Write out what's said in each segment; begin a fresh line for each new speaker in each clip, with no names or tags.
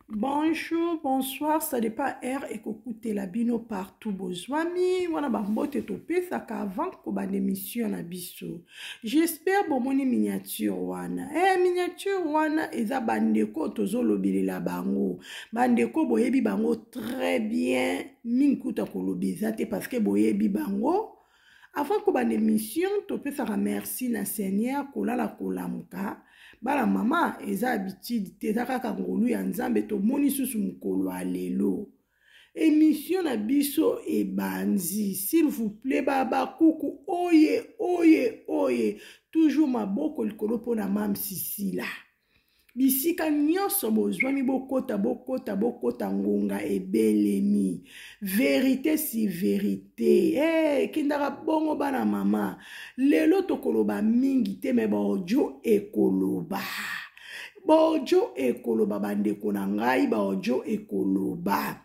bonjour bonsoir ça dépend heure ekokutela bino partout bozwami wana bambote topesaka avant kobanda émission na biso j'espère bomoni miniature wana eh, miniature wana eza bandeko tozolobelela bango bandeko boyebi bango très bien mingi kuta koloba eza te parce que boyebi bango avant kobanda émission topesaka merci na seigneur kolala kolamuka bana mama eza habitude te eza kaka ngolu ya nzambe tomoni susu mokolo ya lelo émission na biso ebandi s'il vous plaît babakuku oye oye oye toujours maboko likolo mpo na mam sisila bisika nyonso bozwami bokota bokota bokota ngonga ebelemi verite si verite hey, eh, ekendaka bongo bana mama lelo tokoloba mingi te me baodio ekoloba baodio ekoloba bandeko na ngai baodio ekoloba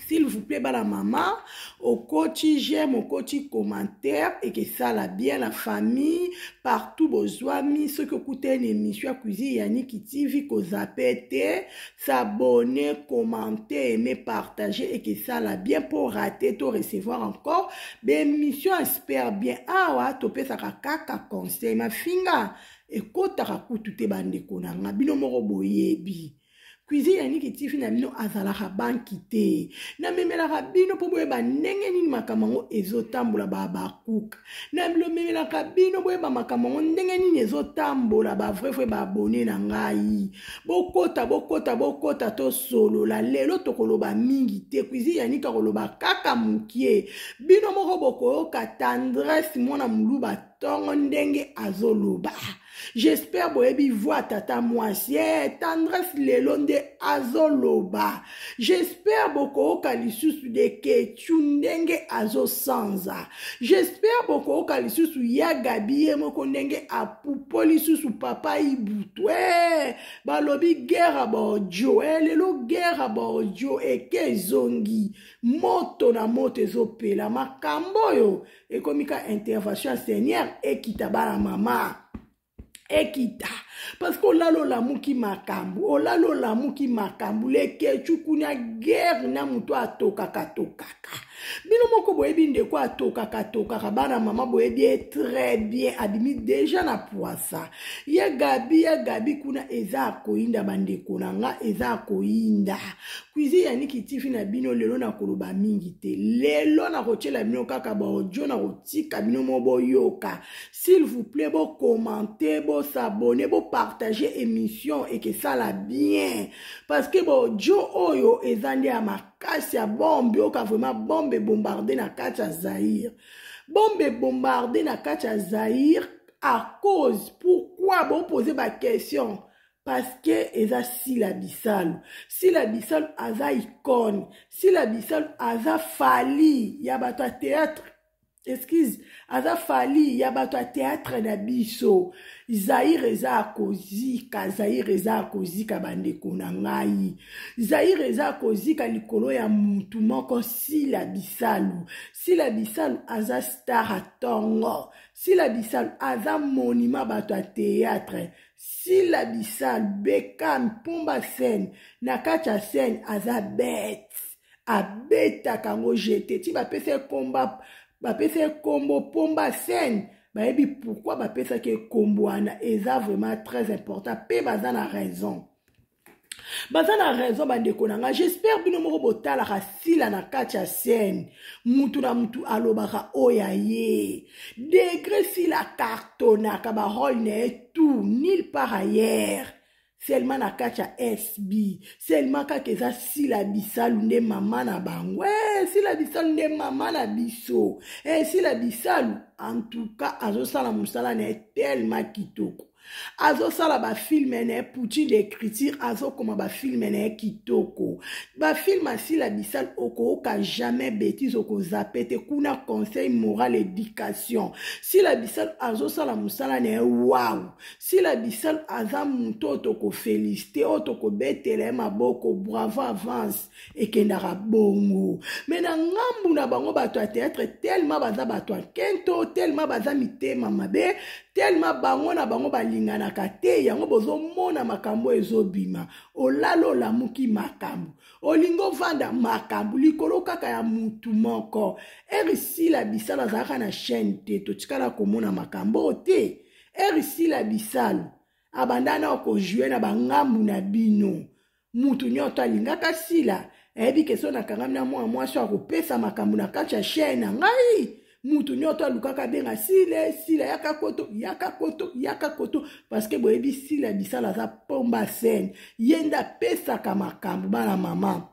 s'il vous plaît bana mama okoti j'aime okoti commentaire ekesala bien la famille partout bozwami soki okutani na émission ya cuisine ya niki tv kozape te s'abonne commente aime partage ekesala bien mpo rate to recevoir encore baémission ya super bien awa topesaka kaka conseil mafinga ekotaka kutu te bandeko na nga bino moko boyebi cuisine ya niki tifi na bino azalaka banki te namemelaka bino mpo boyeba ndenge nini makambo yango ezotambola babakuka namemelaka bino boyeba makambo yango ndenge nini ezotambola bavrai vrai baabone na ngai bokota bokota bokota tosolola lelo tokoloba mingi te cuisine ya niki akoloba kaka mokie bino moko bokoyoka tendresse mwana moluba tongo ndenge azoloba j'espère boyebi voi tata mwasi e tendresse lelo nde azoloba j'espère bokooka lisusu de kechu ndenge azosanza j'espère bokooka lisusu ya gabi ye moko ndenge apupo lisusu papa ibutu e balobi gera baodio e lelo gera baodio eke ezongi moto na moto ezopela makambo oyo ekomi ka intervention ya seigneur ekita bana mama ekita parce que olala olamuki makambo olala olamuki makambo lekecuku na guerre na moto atokaka tokaka bino moko boyebi ndeko atokaka tokaka bana mama boyebi ye très bien abimi deja na pwasa ye gabi ya gabi kuna eza akoyinda bandeko na nga eza akoyinda Cuisine ya Niki TV na bino lelo na koloba mingi te. Lelo na kotiela bino kaka ba audio na kotika bino mo boyoka. S'il vous plaît bo commenter, bo s'abonner, bo partager émission et que ça la bien. Parce que ba audio oyo eza nde ya makasi ya bombe yoka vraiment bombe bombarder na kati ya Zaïre. Bombe bombarder na kati ya Zaïre à cause pourquoi bo poser ba questions paske eza sila bisalu sila bisalu aza icone sila bisalu aza fali ya bato ya théâtre excuse aza fali ya bato ya théâtre na biso zaire eza ya kozika zaire eza ya kozika bandeko na ngai zaire eza ya kozika likolo ya mutu moko sila bisalu sila bisalu aza star ya tongo sila bisalu aza monima bato ya théâtre sila bisalu bekam pomba scène na kati ya scène aza bete abetaka yango jete ti bapesa ye komba bapesa ye kombo pomba scène bayebi pourkui bapesaki ye kombo wana eza vraiment très important mpe baza na raison baza na raison bandeko na ngai j'espère bino moko botalaka sila na kati ya scène mutu na mutu alobaka oyo ya ye degre sila cartonaka barole na ye tout nil par ailleurs seulement na kati ya sb seulement kaka eza sila bisalu nde mama na bango e sila bisalu nde mama na biso e sila bisalu en tout cas azosala mosala na ye tellement kitoko azosala bafilme na ye poutine de écriture azokoma bafilme na ye kitoko bafilme asila bisal okooka jamais bétise okozape te kuna conseil moral éducation sila bisal azosala mosala na ye waw sila bisal aza moto oyo tokofelisite oyo tokobetela ye maboko bravo avance ekendaka bongo me na ngambu na bango bato ya teatre telema baza bato ya kento telema baza mitema mabe telema bango na bango balinganaka te yango bozomona makambo ezobima olala olamuki makambo olingi ovanda makambo likolo kaka ya mutu moko erisila bisala azalaka na chaine te totikala komona makambo te erisila bisalo abanda na okojue na bangambu na bino mutu nyoto alingaka sila ayebi ke so nakangami na mwana mwasi akopesa makambo na kati ya chaine na ngai mutu nyoto alukaka abenga sile sila yaka koto yaka koto yaka koto parceke boyebi sila bisala aza pomba sene ye nde apesaka makambo bana mama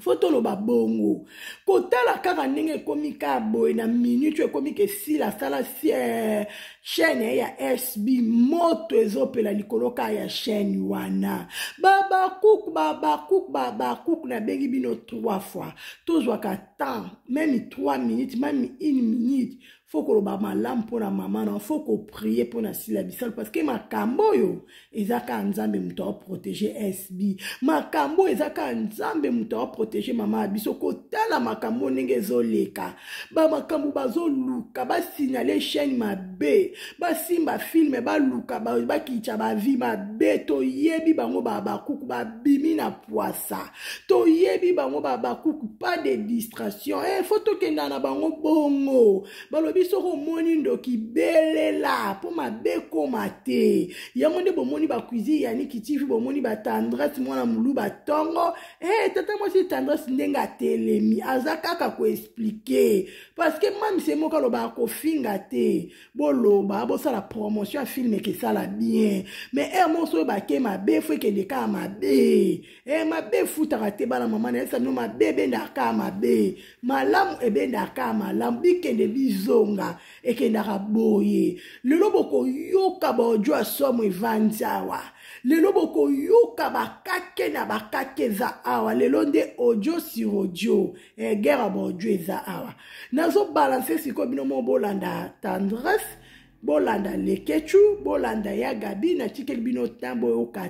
fo toloba bongo kotala kaka ndenge ekomi kaka boye na minute oyo ekomi ke sila asala sie chaîne ye ya sb moto ezopela likolo kaka ya chaîne wana babakuk babakuk babakuk nabengi bino trois fois tozwaka temps meme trois minutes meme une minute fo koloba malamu mpo na mama na fo koprie mpo na sila bisalu parceke makambo oyo eza kaka nzambe moto aoprotege sb makambo oyo eza kaka nzambe moto aoprotege mama ya biso kotala makambo ndenge ezoleka bamakambo bazoluka basignale chaine mabe basimba filme baluka bakitya bavi mabe toyebi bango babakuku babimi na pwasa toyebi bango babakuku pas de distraction e eh, fo tokenda na bango bongo balobi soki omoni ndoki belela mpo mabe ekoma te yango nde bomoni bakuizine ya niki tv bomoni batendresse mwana molu batongo e eh, tata mwasi tendresse ndenge atelemi aza kaka koexplike parceke mamise moko alobaka kofinga te boloba bosala promotion ya filme kesala bien mais ere moko soki bake mabe fo ekende kaka mabe e mabe efutaka te bana mama nayebisa bino mabe ebendaka kaka mabe malamu ebendaka kaka malamu bikende bizonga ekendaka boye lelo bokoyoka baodio ya somo evandi awa lelo bokoyoka bakake na bakake eza awa lelo nde odio sur odio eh, guerre ya baodio eza awa nazobalanse sikoyo bino moko bolanda tendresse bolanda lekechu bolanda ya gabi natikeli bino ntan boyoka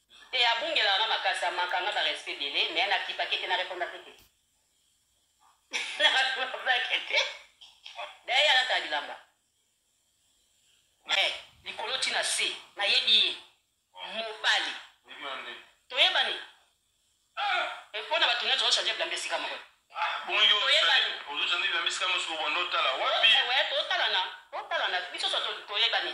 Te abungelaka nga makasi amaka nga ba respect ebele mais na kipaki te na repondaki te na repondaki te daye alata bilamba eh, likolo ti na se nayebi ye mobali toyebani mpo na bato nyonso ochange bilamba esika moko
totalana
totalana biso so toyebani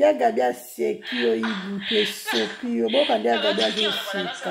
ya gabi aseki yo ibutu esopi yo bokande ya gabi azoseka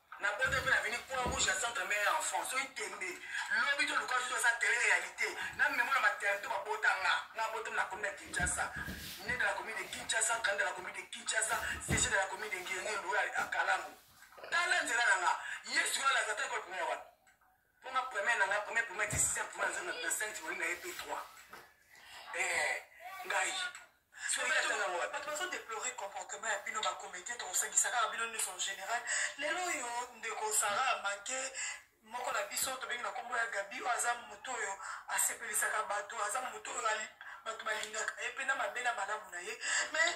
Na bota mpe na vini croix rouge ya centre meilleur enfant soki tembe lobi to luka soki eza tele réalité na memo na maternité babota nga nga bota na komi na Kinshasa né de la commune de Kinshasa grande de la commune de Kinshasa CG de la commune de Ngenge Loya Akalango tala nzela na nga Yesu alazata ekopimela wapi Pona premier nanga premier premier ti sixième premier zona na cinq tu na EP 3. Eh ngai. bato bazo deplore comportement ya bino bacomédien tokosangisaka bino nyonso en général lelo oyo ndeko sara amake moko na biso tobengi na nkombo ya gabi oyo aza moto oyo asepelisaka bato aza moto oyo bato balingaka ye mpe na mabe na malamu na ye mais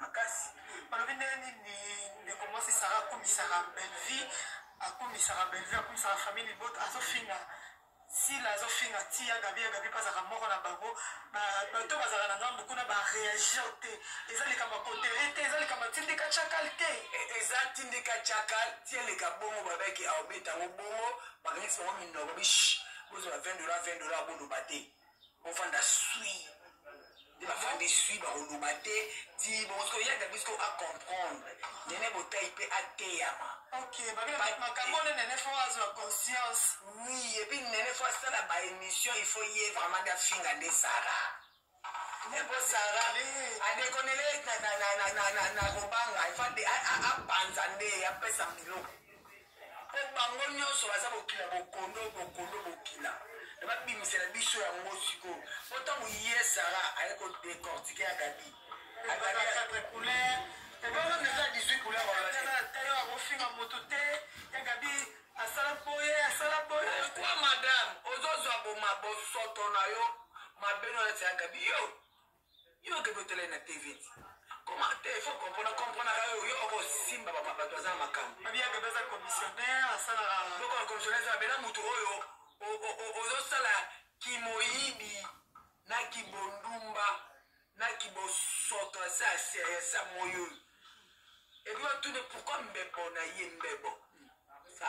makasi balobi ndenge nini ndeko mwasi sara akumisaka bellevie akumisaka bellevie akumisaka famille libota azofinga sila azofinga ti ya gabi ya gabi mpe azalaka moko na bango bato bazalaka na ngambo kuna bareagir te eza likambo kotere te eza likambo tindika chakal te e, eza tindika chakal ti eleka bongo babeki aobeta yango bongo bakanisi bango minoko bish bozwa 20 dola 20 dola boloba te bovanda sui nde bavandi sui bakoloba te ti bongo ya gabi siko acomprendre nene botai mpe ateyama makambo nde nene fo azwa conscience oui epuis nene fo asala baémission il faut ye vraiment nde afinga nde sara nepo sara adekonele na kobanga abanza nde apesa biloko po bango nyonso baza bokila bokondo bokondo bokila na babimisela biso yango sikoyo po ntango ye sara aye kodecortike ya gabi ofinga moto te ya gabi asala boye asala boye kwa madame ozozwa boma bosoto na yo mabeno neti ya gabi yo yo okende otala ye na tv comment te faut comprendre comprendre yo yo okosimba bato aza na makambo mabiaka baza commissionnaire asalaka loko na commissionnaire eza bela motu oyo ozosala kimoyibi na kibondumba na kibosoto asa seriesa moyo epi batune pourkui mbebo na ye mbebo sa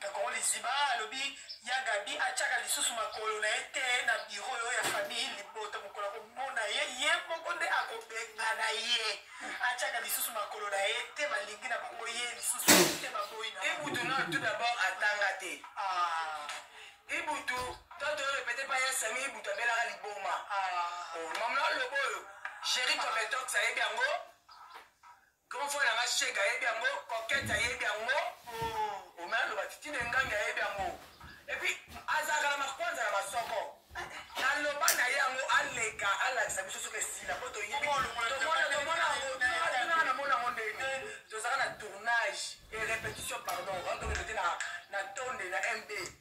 na kongo liziba alobi ya gabi atiaka lisusu makolo na ye te na biro oyo ya famille libota mokolo akomona ye ye moko nde akobengana ye atiaka lisusu makolo na ye te balingi na bango ye lisusu te baboyi na ibutu na tout d'abord atanga te ah. ibutu toto oyo pete pa yasami ibutu abelaka liboma ah. oh, mamla lobo oyo géri cometox ayebi yango Grand frère na nga Shega ayebi yango, Coquette ayebi yango, oh, Omer aloba Titi na Engambi ayebi yango. Et puis azalaka na makwanza na masoko. Naloba na ye yango aleka alakisa biso soki esila mpo toyebi tomona tomona yango tuna na mona yango ndenge tozalaka na tournage et répétition pardon on doit répéter na na tonde na MB.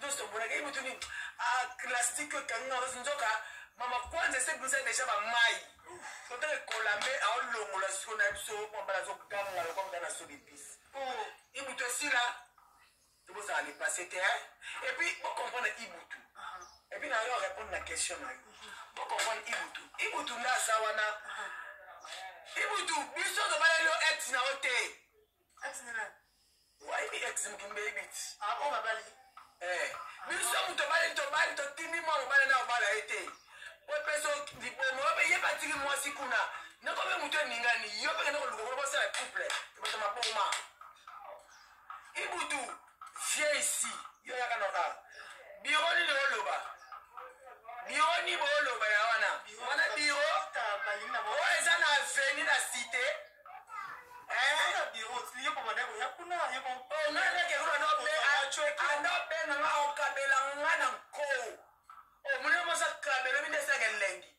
Tous tomonaka ye mutu nini? Ah, classique ekangi na rose nzoka mama kwanza ese bisa deja ba mai. Totala ekola me aolongola siko na biso mwa bala azoganga lokola mutana sobi pisi. Oh, ibutu esila. Tobosaka le passé te hein. Et puis bo comprendre ibutu. Et puis na yo répondre na question na yo. Bo comprendre ibutu. Ibutu nda aza wana. Ibutu biso tobaleli yo ex na yo te. Ex nini nani? Wapi ex mukimbe ebiti? Ah bon babali. Eh, biso moto obali tobali totindi mwa mobali na obala ye te po epeso libomo obe ye batiki mwasi kuna nakobe moto eningani yo mpe kende koluka kuna bosala couple bato maboma ibutu Viens ici. Yo yaka na ba. Biro nini oloba? Biro ni bo oloba ya wana. Wana biro. Oyo eza na avenue na cité. anobena nga okabela nga na nko omoni mosa kabelo minde esaka elengi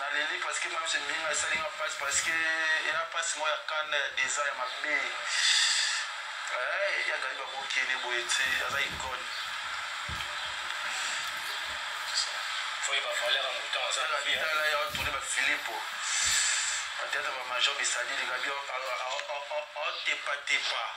Na leli parce que mam's mbinga esali nga pasi parce que ya pasi moko ya kanda ya deza ya mabe eh, ya gali bakokende boye te aza icone
tala ya tourne
bafilipo ateyata bamajor bisalili kabi aotepatepa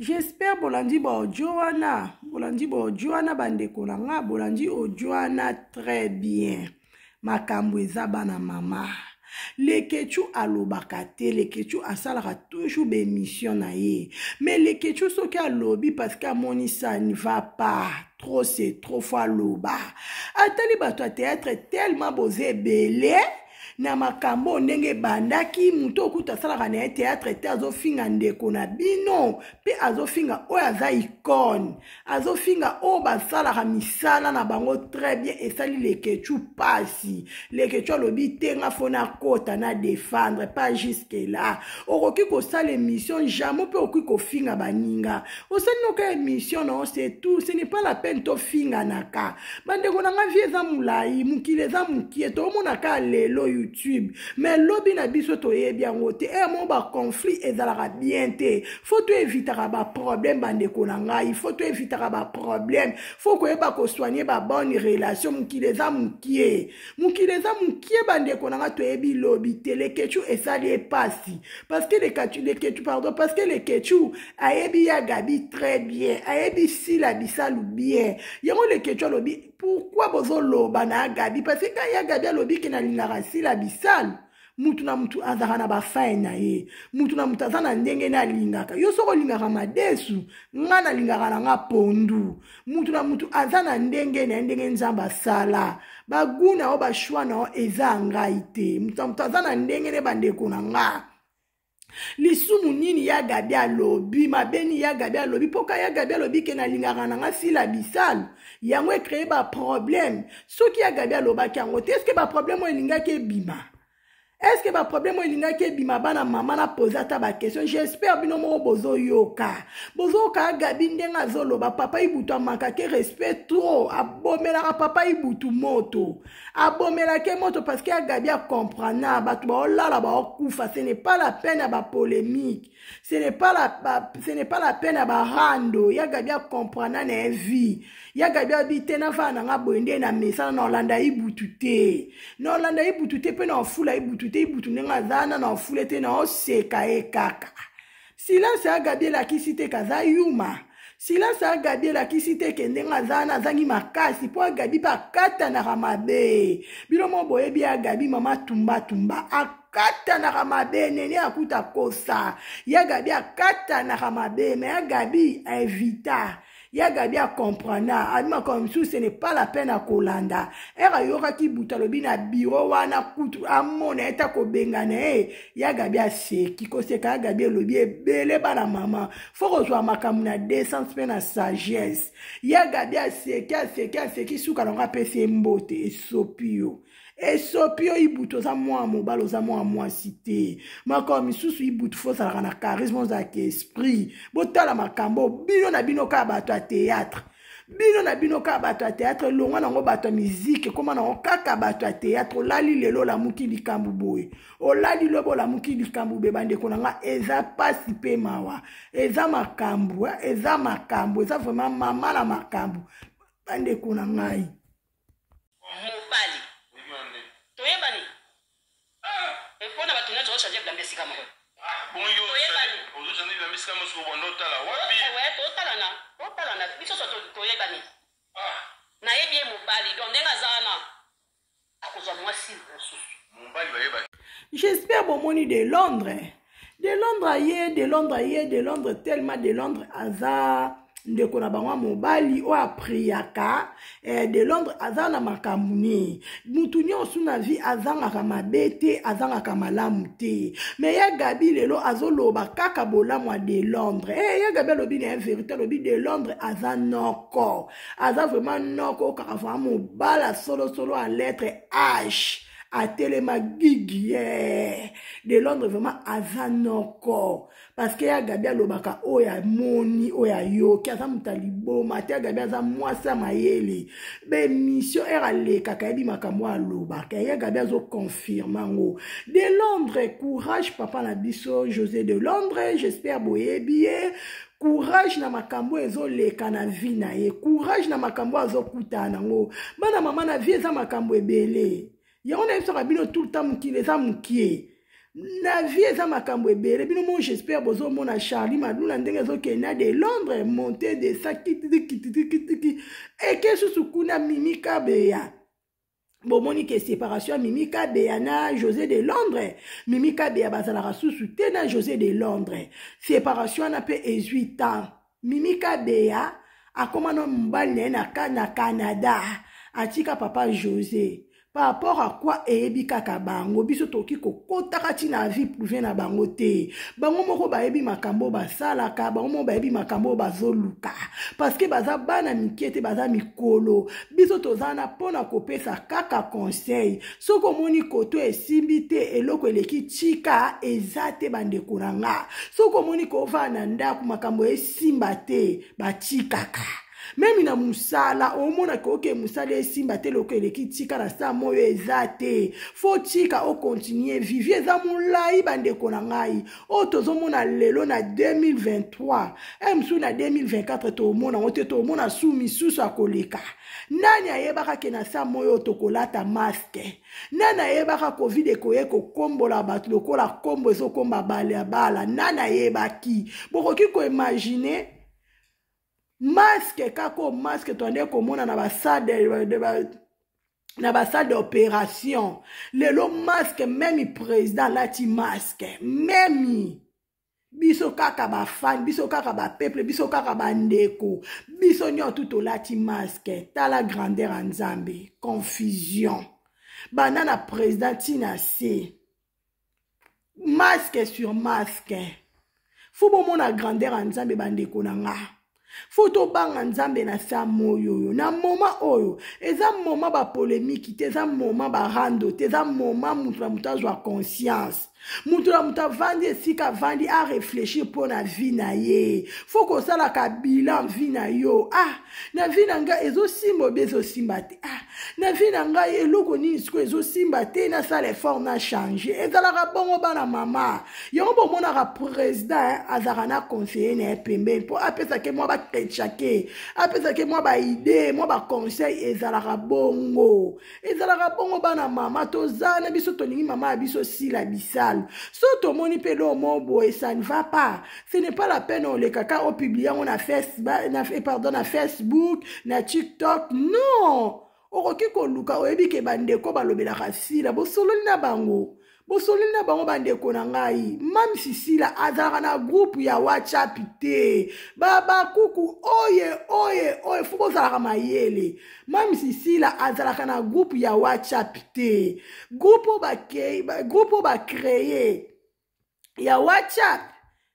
J'espère
bolandi ba audio wana bolandi ba audio wana bandeko na nga bolandi audio wana très bien makambo eza bana mama lekechu alobaka te lekechu asalaka toujours baémission na ye mais lekechu soki alobi parce que amoni ça ne va pas trop c'est trop fo aloba atali bato ya théâtre tellement boza ebele na makambo oyo ndenge ebandaki moto oyo kutu asalaka na ye teatre te azofinga ndeko na bino mpe azofinga oyo aza icone azofinga oyo basalaka misala na bango très bien esali lekechu mpasi lekechu alobi te nga fo nakota na defendre pas jusque là okoki kosala émission jamai mpe okoki kofinga baninga osali noka émission na yo c'est tout ce n'est pas la peine tofinganaka bandeko na nga vie eza molai mokili eza mokie tomonaka lelo youtube mais lobi na biso toyebi yango te eye moko baconflit ezalaka bien te fo toevitaka baproblème bandeko na ngai fo toevitaka baproblème fo koyeba kosoigne babonne relation mokili eza mokie mokili eza mokie bandeko na nga toyebi lobi te lekechu esali epasi parce que lekechu pardon parce que lekechu ayebi ya gabi très bien ayebi sila bisalu bien yango leketio alobi pourkui bozoloba na ya gabi parce que ya gabi alobi ke nalingaka sila bisalu mutu na mutu azalaka na bafai na ye mutu na mutu aza na ndenge ne alingaka yo soki olingaka madesu ngai nalingaka na nga pondu mutu na mutu aza na ndenge na ye ndenge nzambe asala bagu na yo bashwa na yo eza ya ngai te mutu na mutu aza na ndenge ne bandeko na ngai lisumu nini ya gabi alobi mabe nini ya gabi alobi mpo ka ya gabi alobi ke nalingaka na nga sila bisalu yango ecreye baproblème soki ya gabi alobaki yango te eske baproblème oyo elingaki ebima eske baproblème oyo elingaki ebima bana mama na poze ata baquestion j'espère bino moko bozoyoka bozoyoka ya gabi ndenge azoloba papa ibutu amakake respect trop abomelaka papa ibutu moto abomelaki ye moto parce que ya gabi acomprana bato baolala baokufa ce n'est pas la peine ya bapolémique ce n'est pas la, ba, ce n'est pas la peine ya barando ya gabi acomprana na ye vie ya gabi abi te nafaa na nga boye nde na mesana na olanda ibutu te na olanda ibutu te mpe na ofula ibutu te ibutu ndenge aza na na ofula te na oseka ye kaka silence ya gabi elakisi te kaza yuma silence ya gabi elakisi te ke ndenge aza wana azangi makasi mpo agabi mpe akatanaka mabe bino mo boyebi ya gabi mama tumbatumba akatanaka mabe nene akuta kosa ya gabi akatanaka mabe me ya gabi invita ya gabi acomprana abi makambo mosusu ce n'est pas la peine akolanda ere ayokaki buta alobi na biro wana kutu amona ye ta kobengana ye ya gabi aseki koseka ya gabi elobi ebele bana mama fo kozwa makambo na descence mpe na sagesse ya gabi aseki aseki aseki suka nango apesi ye mbote esopi yo esopi yo ibutu oza mwana mobali oza mwana mwasi te makolo misusu ibutu fo ozalaka na charisme ozalaka esprit botala makambo bino na bino kaka bato ya théâtre bino na bino kaka bato ya théâtre elongwa nango bato ya miziki ekoma nango kaka bato ya théâtre olali lelo olamuki likambo boye olali lobo olamuki likambo boye bandeko na nga eza mpasi mpe mawa eza makambo eza makambo eza vraiment mama na makambo bandeko na ngai
mobali toyebani mpo na bato nyonso ochange
bilamba esika moko totalana
totalana biso so toyebani nayebi ye mobali don ndenge aza wana akozwa mwasi mosusu
j'espère
bomoni de londres de londres aye de londres aye de londres tellement de londres aza ndeko na bango ya mobali oyo apriyaka eh, de londres aza na makambo nini motu nyonso na vie azangaka mabe te azangaka malamu te me ya gabi lelo azoloba kaka bolamu ya de londres eh, ya gabi alobi na ye verité alobi de londres aza noko aza vraiment noko kaka vraimen mobala solosolo ya lettre h atelema gigi eh. de londres vraiment aza noko parce que ya gabi alobaka oyo amoni oyo ayoki aza moto ya liboma te ya gabi aza mwasi ya mayele baémission ere alekaka yebi makambo oyo alobaka ya gabi azoconfirme yango de londres courage papa na biso josé de londres j'espère boyebi ye courage na makambo oyo ezoleka na vie na ye courage na makambo oyo azokutana nango bana mama na vie eza makambo ebele yango nayebisaka bino tout le temps mokili eza mokie na vie eza makambo ebele bino mo j'espère bozomona charlie madula ndenge ezokende na de londres monte de sa kitikitikitiki eke susu kuna mimi kabeya bomoni ke séparation ya mimi kabeya na josé de londres mimi kabeya bazalaka susu te na josé de londres séparation wana mpe ezwi temps mimi kabeya akoma na mobali na ye na canada atika papa josé par rapport à quoi eyebi kaka bango biso tokoki kokotaka ntina ya vie prive na bango te bango moko bayebi makambo basalaka bango moko bayebi makambo oyo bazoluka parceke baza bana mike te baza mikolo biso toza wana mpo na kopesa kaka conseil soki omoni koto esimbi te eloko eleki tika eza te bandeko na nga soki omoni kovaa na ndako makambo esimba te batikaka memi na mosala omonaka oke mosala esimba te eloko eleki tika na saa moyo eza te fo tika okontinue vivi eza molai bandeko na ngai oyo tozomona lelo na 2023 e mosusu na 2024 toomona yango te toomona su misusu akoleka nani ayebaka ke na saa moi oyo tokolata maske nani ayebaka covid ekoye kokombola bato lokola kombo ezokomba bale ya bala nani ayebaki bokoki koimagine maske kaka oyo maske toande komona na basade na basalle d'opération lelo masque meme président alati masque meme biso kaka bafani biso kaka bapeuple biso kaka bandeko biso nyonso tu tolati masque tala grandeur ya nzambe confusion banda na président ntina se masque sur masque fo bomona grandeur ya nzambe bandeko na nga fo tobanga nzambe na sa moyo oyo na moma oyo eza moma bapolemiki te eza moma barando te eza moma moto na moto azwa conscience moto na moto avandi esika avandi areflechir mpo na vi na ye fo kosalaka bilan vi na yo ah na vi na ngai ezosimba obi ezosimba te ah, na vi na ngai eloko nini sikoyo ezosimba te nasala effort na change ezalaka bongo bana mama yango bomonaka président azalaka na conseiller na ye pembeni mpo apesake mwa bakretchake apesake mwa baide mwa baconseil ezalaka bongo ezalaka bongo bana mama toza na biso tolingi mama ya biso sila bisalu so tomoni mpe eloo mo boye ça ne va pas ce n'est pas la peine oleka ka opiblie yango na, na, eh, pardon, na facebook na tiktok non okoki koluka oyebi ke bandeko balobelaka sila bosololi na bango bosololi na bango bandeko na ngai mame sisila azalaka na groupe ya whatsapp te babakuku oye oye oye fo bozalaka mayele mame sisila azalaka na groupe ya whatsapp te groupe oyo bacreye ya whatsapp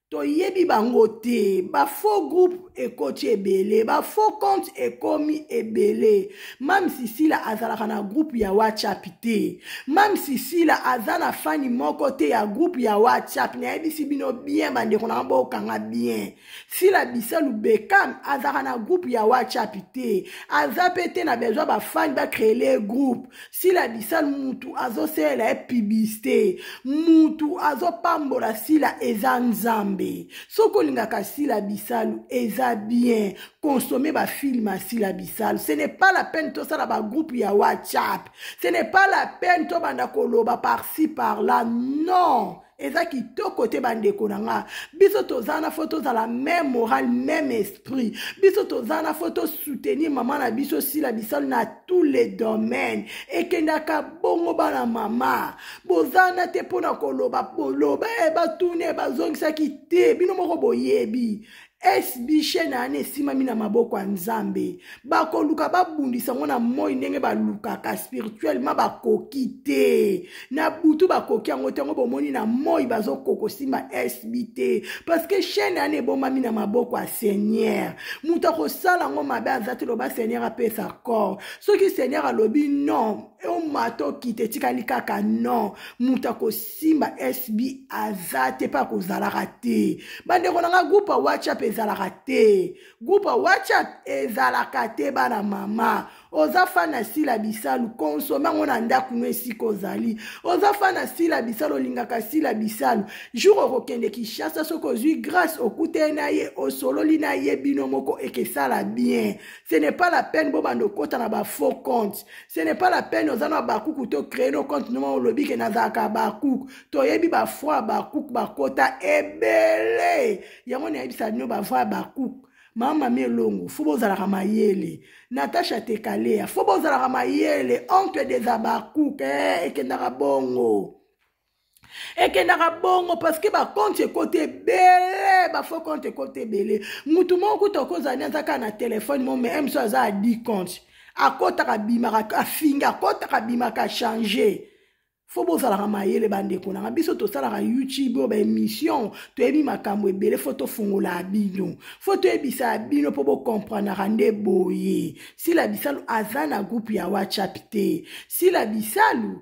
toyebi bango te bafaux groupe ekoti ebele bafaux compte ekomi ebele mame sisila azalaka na groupe ya whatsapp te mame sisila aza na fani moko te ya groupe ya whatsapp nayebisi bino bien bandeko na yango bokanga bien sila bisalu bekam azalaka na groupe ya whatsapp te aza mpe te na besoin bafani bacreele groupe sila bisalu mutu azosalela ye publicité mutu azopambola sila eza nzambe soki olingaka sila bisalu eza bien consommer bafilme ya sila bisalu ce n'est pas la peine tosala bagroupe ya whatsapp ce n'est pas la peine tobanda koloba parci par là non eza kitoko te bandeko na nga biso toza na fo tozala meme moral meme esprit biso toza na fo tosoutenir mama na biso sila bisalu na tous les domaines ekendaka bongo bana mama boza na te mpo na koloba boloba e eh, batuna e eh, bazongisaki te bino moko boyebi esbishe na yana esimami na maboko ya nzambe bakoluka babundisa yango na moi ndenge balukaka spirituellement bakoki te na butu bakoki yango te yango bomoni na moi bazokokosimba sb te parceke chaine yana ebombami na maboko ya seigneur moto akosala yango mabe aza te loba seigneur apesa corps soki seigneur alobi non omata okite etikali kaka non moto akos simba sb aza te mpe akozalaka te bandeko na ngai groupe ya whatsapp ezalaka te groupe ya whatsapp ezalaka te bana mama oza fan na sila bisalu konsome yango na ndako no esika ozali oza fan na sila bisalu olingaka sila bisalu jour okokende kinshasa soki ozwi grace okutani na ye osololi na ye bino moko ekesala bien ce n'est pas la peine bobanda okota na bafaux compte ce n'est pas la peine oza na abakuku to créer no compte noma olobi ke nazalaka abakuku toyebi bafoi abakuku bakota ebele yango nayebisa bino bavoi abakuku mama mi elongo fo bozalaka mayele natasha tekalea fo bozalaka mayele oncle des abakuku eh, ekendaka bongo ekendaka bongo parceke bakonte ekoti ebele bafo konte ekoti ebele motu moko kuta okozani aza kaka na telefone mo me mso aza adi konte akotaka bimaka afingi akotaka bimaka change fo bozalaka mayele bandeko nanga biso tosalaka youtube oyo baémission toyebi makambo ebele fo tofungolaka bino fo toyebisaka bino mpo bokompranaka nde boye sila bisalu aza na groupe ya whatsapp te sila bisalu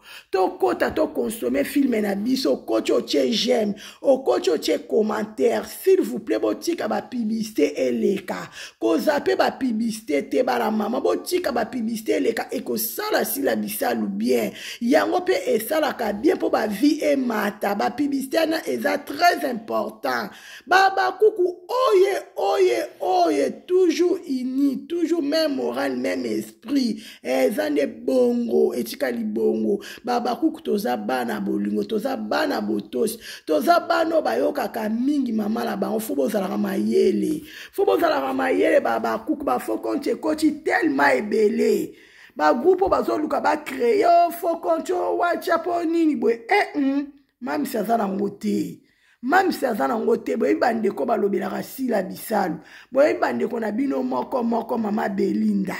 tokota tokonsome filme na biso okoti otie j'aime okoti otie commentaire s'il vous plaît botika bapiblisite eleka koza mpe bapiblisite te bana mama botika bapiblisite eleka ekosala sila bisalu bien yango mpe esalaka bien mpo bavie emata bapiblisite wana eza très important babakuku oye oye oye toujours uni toujours même moral même esprit esprit eh, eza nde bongo etikali bongo babakuku toza bana bolingo toza bana botosi toza bana oyo bayokaka mingi mama na bango fo bozalaka mayele fo bozalaka mayele babakuku bafo konti ekoti telema ebele bagroupe oyo bazoluka bacreye fo konti oyo watia mpo nini boye e eh, mm, mamisi aza nango te mamsi aza nango te boyebi bandeko balobelaka sila bisalu boyebi bandeko na bino moko moko mama belinda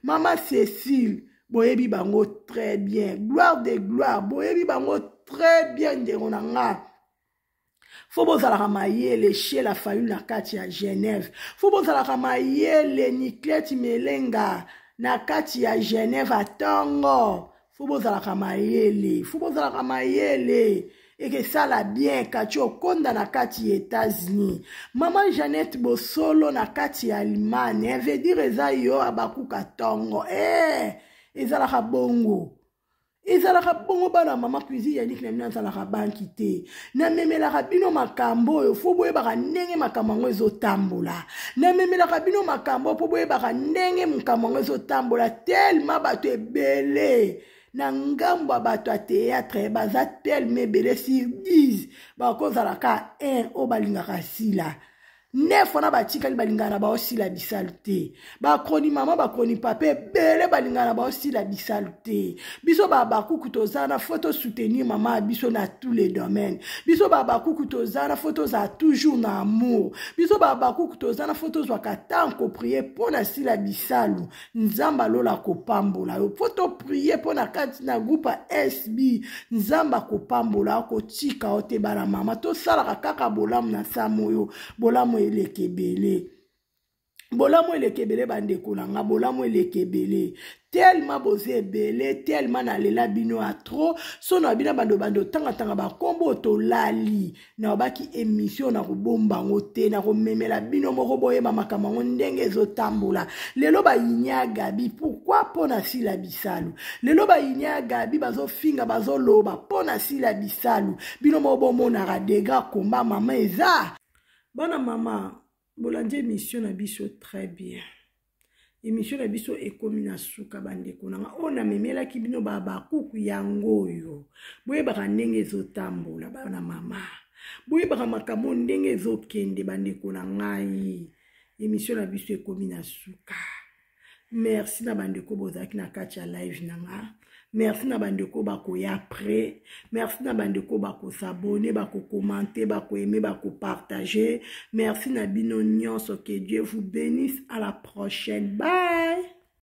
mama cecile boyebi bango très bien gloire de gloire boyebi bango très bien ndeko na nga fo bozalaka mayele chez la famille na kati ya genève fo bozalaka mayele niclete melenga na kati ya genève atongo fo bozalaka mayele fo bozalaka mayele ekesala bien kati okonda na kati ya etats-unis mama jeannette bosolo na kati ya allemagne vedire eza yo abakuka tongo e eh, ezalaka bongo ezalaka bongo bana mama cuisine yaniki na bino azalaka banki te namemelaka bino makambo oyo fo boyebaka ndenge makambo yango ezotambola namemelaka bino makambo oyo mpo boyebaka ndenge makambo yango ezotambola telema bato ebele na ngambo ya bato ya teyatre baza telema ebele sur 10 bakozala ka 1 oyo balingaka sila nef wana batikali balingana na bao sila bisalu te bakroni mama bakroni papa ebele balingana na bao sila bisalu te biso babakuku toza na fo tosoutenir mama ya biso na tous les domaines biso babakuku toza na fo tozala toujours na amour biso babakuku toza na fo tozwaka ntango koprie mpo na sila bisalu nzambe alola akopambola yo mpo toprie mpo na kati na groupe ya sb nzambe akopambola akotika yo te bana mama tosalaka kaka bolamu na samo oyo bolamu eleka ebele bolamu eleka ebele bandeko na nga bolamu eleka ebele telema boza ebele telema nalela bino ya tro so na bino bandobando otangatanga bankombo tolali nalobaki emission nakobomba yango te nakomemela bino moko boyeba makambo yango ndenge ezotambola lelo bayini ya gabi pourkui mpo na sila bisalu lelo bayini ya gabi bazofinga bazoloba mpo na sila bisalu bino moko bomonaka degra komba mama eza bana mama bolandi emission na biso très bien emission na biso ekomi na suka bandeko na nga oyo namemelaki bino babakuku yango oyo boyebaka ndenge ezotambola bana mama boyebaka makambo ndenge ezokende bandeko na ngai emission na biso ekomi na suka merci na bandeko bozalaki na kati ya live na nga merci na bandeko bakoya après merci na bandeko bakosabone bakokomante bakoaime bakopartage merci na bino nyonso que dieu vous bénisse à la prochaine bye